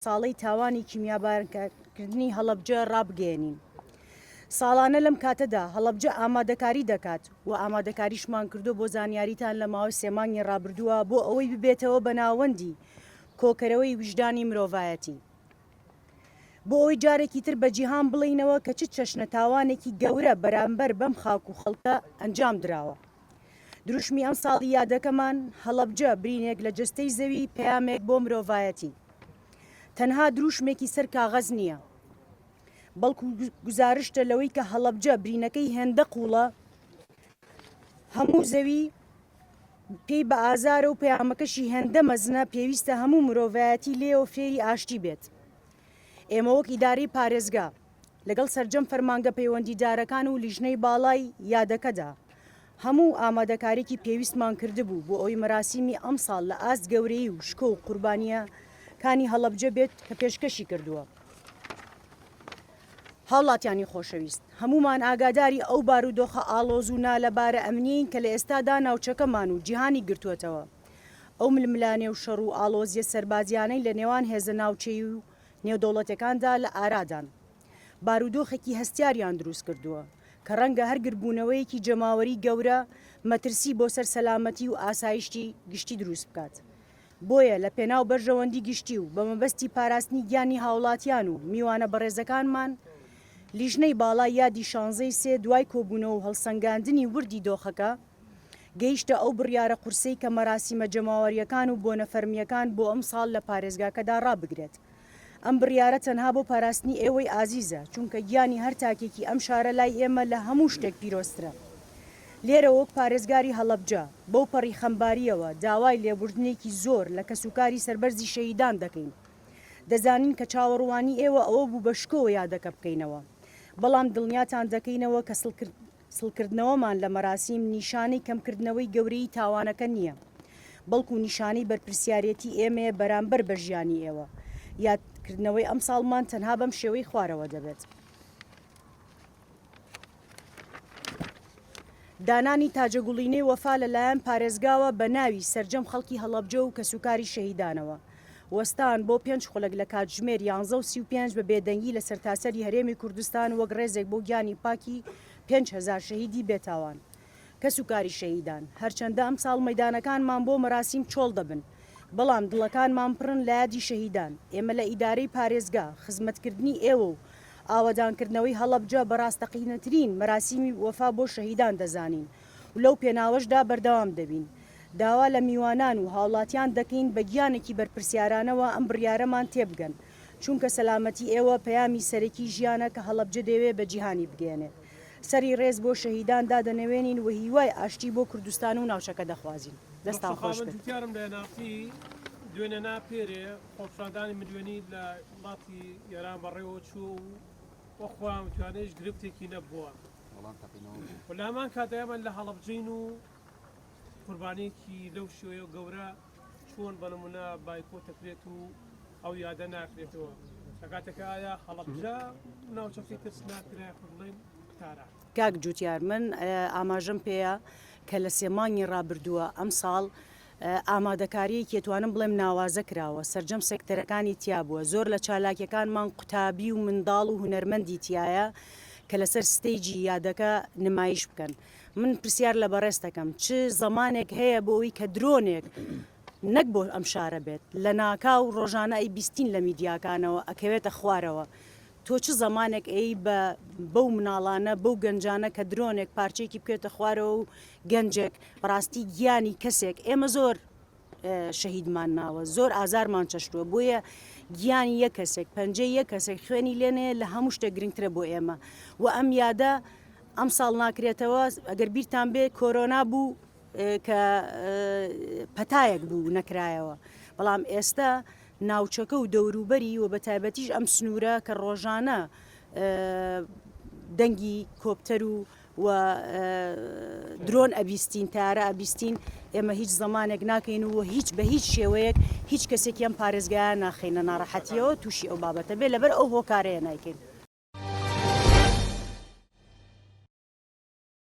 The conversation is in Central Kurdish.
ساڵەی تاوانی کیمیابارنکردنی هەڵەبجە ڕابگەیەنین. ساڵانە لەم کاتەدا هەڵەبجە ئامادەکاری دەکات و ئامادەکاریشمان کردووە بۆ زانیاریتان لە ماوەی سێ مانگی ڕابردووە بۆ ئەوەی ببێتەوە بە ناوەندی کۆکەرەوەی ویژدانی مرۆڤایەتی. بۆ ئەوەی جارێکی تر بە جیهان بڵێینەوە کە چ چەشنە تاوانێکی گەورە بەرامبەر بەم خاک و خەڵکە ئەنجام دراوە. دروشمی ئەمساڵی یادەکەمان هەڵەبجە برینێک لە جەستەی زەوی پەیامێک بۆ مرۆڤایەتی تەنها دروشمێکی سەر کاغەز نییە بەڵکو گزارشتە لەوەی کە هەڵەبجە برینەکەی هێندە قوڵە هەموو زەوی پێی بە ئازارە و پەیامەکەشی هێندە مەزنە پێویستە هەموو مرۆڤایەتی لێەوە فێری ئاشتی بێت ئێمە وەک ئیداری پارێزگا لەگەڵ سەرجەم فەرمانگە پەیوەندیدارەکان و لیژنەی باڵای یادەکەدا هەموو ئامادەکاریکی پێویستمان کردبوو بۆ ئەوی مەراسیمی ئەمساڵ لە ئاست گەورەیی و شکۆ و قوربانیە کانی هەڵەبجە بێت کە پێشکەشی کردووە. هاوڵاتیانی خۆشەویست هەمومان ئاگاداری ئەو بارودۆخە ئاڵۆز و نالەبارە ئەمنیین کە لە ئێستادا ناوچەکەمان و جیهانی گرتووەتەوە ئەو ململانێ و شەڕ و ئاڵۆزیە سەربازیانەی لە نێوان هێزە ناوچەیی و نێودەوڵەتیەکاندا لە ئارادان، بارودۆخێکی هەستیاریان دروست کردووە کە ڕەنگە هەر گردبوونەوەیەکی جەماوەری گەورە مەترسی بۆ سەر سەلامەتی و ئاسایشتی گشتی دروست بکات. بۆیە لە پێناو بەرژەوەندی گشتی و بە مەبەستی پاراستنی گیانی هاوڵاتیان و میوانە بەڕێزەکانمان، لیژنەی باڵای یادی شانزەی سێ دوای کۆبوونەوە و هەڵسەنگاندنی وردی دۆخەکە، گەیشتە ئەو بڕیارە قورسەی کە مەراسیمە جەماوەرییەکان و بۆنە فەرمییەکان بۆ ئەمساڵ لە پارێزگاکەدا ڕابگرێت. ئەم بڕیارە تەنها بۆ پاراستنی ئێوەی ئازیزە، چونکە گیانی هەر تاکێکی ئەم شارە لای ئێمە لە هەموو شتێک پیرۆزترە. لێرە وەک پارێزگاری هەڵەبجە، بەوپەڕی خەمبارییەوە داوای لێبوردنێکی زۆر لە کەسوکاری سەربەرزی شەهیدان دەکەین. دەزانین کە چاوەڕوانی ئێوە ئەوە بوو بە شکۆوە یادەکە بکەینەوە، بەڵام دڵنیاتان دەکەینەوە کە سڵکردنەوەمان لە مەراسیم نیشانەی کەمکردنەوەی گەورەیی تاوانەکە نییە، بەڵکو نیشانەی بەرپرسیارێتی ئێمەیە بەرامبەر بە ژیانی ئێوە. یادکردنەوەی ئەمساڵمان تەنها بەم شێوەی خوارەوە دەبێت. دانانی تاجەگوڵینەی وەفا لەلایەن پارێزگاوە بە ناوی سەرجەم خەڵکی هەڵەبجە و کەسوکاری شەهیدانەوە. وەستان بۆ پێنج خولەک لە کاتژمێر یانزە و سی و پێنج بە بێدەنگی لە سەرتاسەری هەرێمی کوردستان وەک ڕێزێک بۆ گیانی پاکی پێنج هەزار شەهیدی بێتاوان کەسوکاری شەهیدان هەرچەندە ئەمساڵ مەیدانەکانمان بۆ مەراسیم چۆڵ دەبن بەڵام دڵەکانمان پڕن لە یادی شەهیدان ئێمە لە ئیدارەی پارێزگا خزمەتکردنی ئێوە و ئاوەدانکردنەوەی هەڵەبجە بە ڕاستەقینەترین مەراسیمی وەفا بۆ شەهیدان دەزانین و لەو پێناوەشدا بەردەوام دەبین. داوا لە میوانان و هاوڵاتیان دەکەین بە گیانێکی بەرپرسیارانەوە ئەم بڕیارەمان تێبگەن، چونکە سەلامەتی ئێوە پەیامی سەرەکی ژیانە کە هەڵەبجە دەیەوێت بە جیهانی بگەیەنێت. سەری ڕێز بۆ شەهیدان دادەنەوێنین و هیوای ئاشتی بۆ کوردستان و ناوچەکە دەخوازین. دەستتان خۆش بێت. وەڵام تەقینەوە بوو. و لە هەمان کاتدا ئێمە لە هەڵەبجەین و قوربانیەکی لەو شێوەیە و گەورە چۆن بە نمونە بایکۆت دەکرێت و ئەو یادە ناکرێتەوە لە کاتێکا ئایا هەڵەبجە ناوچەکەی ترسناک کرا یاخود بڵێین تاران؟ کاک جوتیار من ئاماژەم پێیە کە لە سێ مانگی ڕابردووە ئەمساڵ ئامادەکارییەکیە توانم بڵێم ناوازە کراوە، سەرجەم سێکتەرەکانی تیا بووە، زۆر لە چالاکیەکانمان قوتابی و منداڵ و هونەرمەندی تیایە کە لەسەر ستەیجی یادەکە نمایش بکەن، من پرسیار لە بەڕێزت ئەکەم چ زەمانێک هەیە بۆ ئەوی کە درۆنێک نەک بۆ ئەم شارە بێت لەناکاو ڕۆژانە ئەیبیستین لە میدیاکانەوە ئەکەوێتە خوارەوە تۆ چ زەمانێک ئێی بە بەو مناڵانە بەو گەنجانە کە درۆنێک پارچەیەکی بکەوێتە خوارەوە و گەنجێک بەڕاستی گیانی کەسێک ئێمە زۆر شەهیدمان ماوە زۆر ئازارمان چەشتووە بۆیە گیانی یە کەسێک پەنجەی یە کەسێک خوێنی لێنێ لە هەموو شتێک گرنگترە بۆ ئێمە و ئەم یادە ئەم ساڵ ناکرێتەوە ئەگەر بیرتان بێ کۆرۆنا بوو کە پەتایەک بوو نەکرایەوە بەڵام ئێستا ناوچەکە و دەوروبەری و بەتایبەتیش ئەم سنوورە کە ڕۆژانە دەنگی کۆپتەر و و درۆن ئەبیستین تارە ئەبیستین ئێمە هیچ زمانێک ناکەین و هیچ بە هیچ شێوەیەک هیچ کەسێکی ئەم پارێزگایان ناخینە ناڕەحەتیەوە تووشی ئەو بابەتە بێ لەبەر ئەو هۆکارەیە نایکەین.